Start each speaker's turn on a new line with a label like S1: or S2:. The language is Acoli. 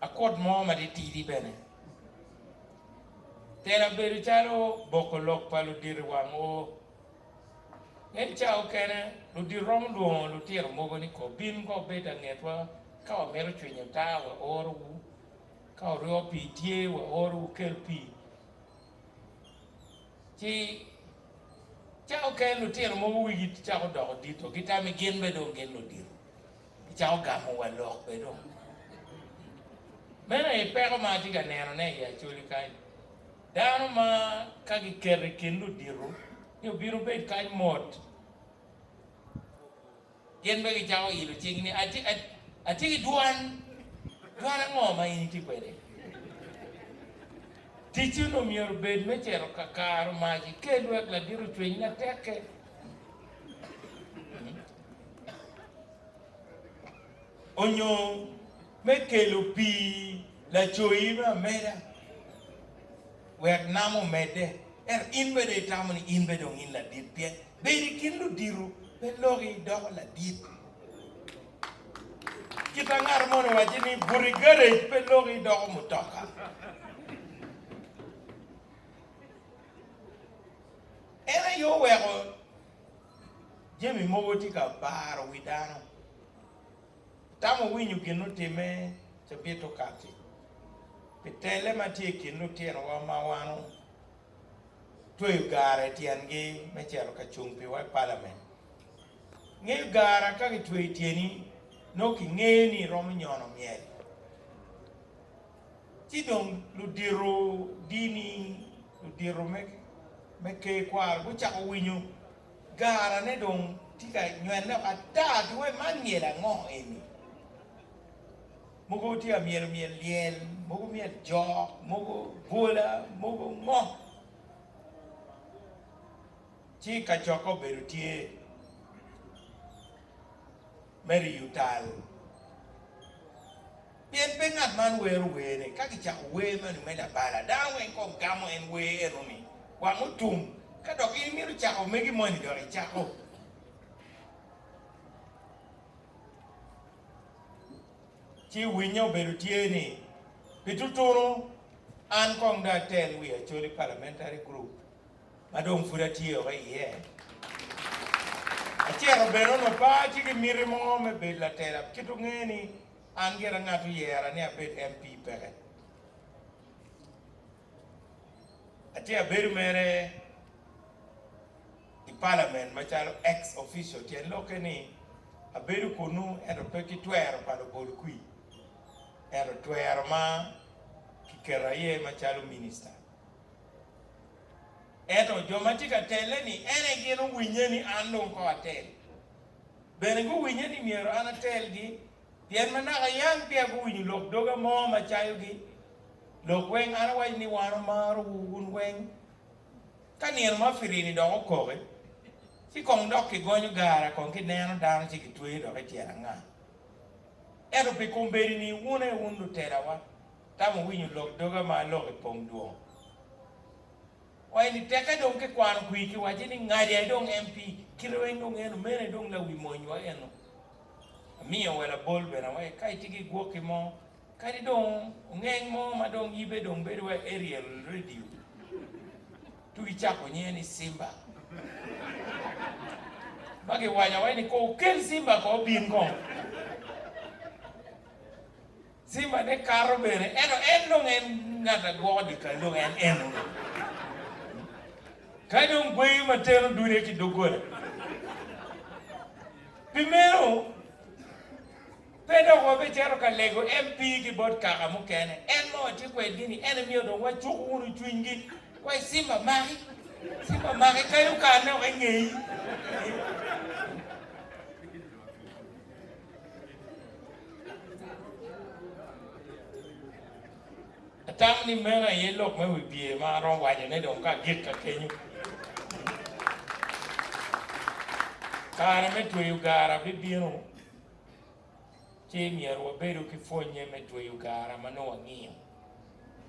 S1: Akot mo matitidi bene tera bedo calo boko lok pa ludito i wang oo. Me i cawa mukene, ludito romo lwongo lutino mogo ni ko bin ka wubed langetwa, ka wamito cwinyo taa waorowu, ka wuryo pii tye waoro wukel pii. Ci cawa mukene lutino mogo wigi cako doko dito, gitami gin bene dong gin ludito. Gicako gamo wa lok bene dong. Meno aye peko ma atye ka nenone i Acholi kany. Dano ma ka giketo i kin ludito ni obino bed kany mot, gin bene gicako ilo cing ni, Atye, atye ki dwan. Dwan ango ma in itye kwede? Ticci onongo myero obed me cito ka karo mac ikel wek ladit ocwiny matek-ke. onyo me kelo pii lacoyi me ameda wek nam omedde, ento in bene itamo ni in bene dong in ladit pien bedo i kin ludito pe loki idoko ladit. Kita ngat moni owacci ni buto i garage pe loki idoko mutoka. En aye oweko jami mogo tye ka baro wi dano. Itamo winyo gin otimme cabit okatti pi telle ma tye i kin lutinowa ma wan otweyo garre tyengi me cito ka cung piwa i palament? Ingeyo garra ka kitweyo tyeni nongo kingeyo ni iromo nyono myel. Ci dong ludito dini, ludito me ker kwaro gucako winyo garane dong tye ka nywene loko ata pi wai man myel ango eni. Mogo tye ka myelo myel lyel, mogo myel jok, mogo bwola, mogo ngo. Ci kacokke obedo tye. me riyo tal. Pien pe ngat man wero werne, ka gicako wer meno me labala, dano weng kong gamo en wer eno ni, Wang otum, ka dok in imito cako megi moni dok icako. Ci winye obedo tye ni, Pi tutunu, an kong dong atel wi Acholi Parliamentary Group. ma dong pud atye woko iye. Acito bene onongo pe atye ki miti mo me bedo latela, kit ongeyo ni an gira ngat oyera ni abed MP peke. Atye abedo mere i palament macalo ex official, tyen lokke ni abedo kunnu ento pe ki twero pa labol kwir, ento twero ma kiketa iye macalo minista. Ento jo ma tye ka telle-ni, en aye gin owinye ni an dong kong atel. Bene guwinye ni myero an atelgi, pien ma naka yam peya guwinyo lok doga mo ma cayogi. Lok weng an awaco ni wan omarowu wun weng. Ka nino ma pirini dok okoki, ci kong dok kigonyo gara kong kineno dano ci kitweyo dok i tyen anga. Ento pi kombeddi-ni wun aye wun lutelawa, Tam wuwinyo lok doga ma aloko i pong dwong. Kwayo ni teke dong kikwano kwir kiwaco ni Ngadi aye dong MP, kite weng dong eno, meno aye dong lawi mony wa eno. Amiyo wa labol bene awaco ka itye ki gwoki mo kadi dong ongeng mo ma dong yibe dong bedo wa Ariel radio tuk icako nyinge ni Simba ma giwaco awaco ni kong wukel Simba kong obin kong. Simba ne kato bene, ento en dong en ngat a gwoko dyekal dong en eno ni. Ka dong gweyo ma teno dude ki doggola. Pi meno, pe dok wabicito ka lego MP ki bot kaka mukene, en ma watye kwedgi ni, ento myero dong wacuk wunu cwinygi, wai Simba maki, Simba maki, kadi okanne woko i ngeyi. Atamo ni meno aye lok me wi pyer ma aromo wacone dong ka agikka kenyo. Kare me tweyo gara bibino, ci myero wabedo ki pwonnye me tweyo gara ma nongo wangiyo.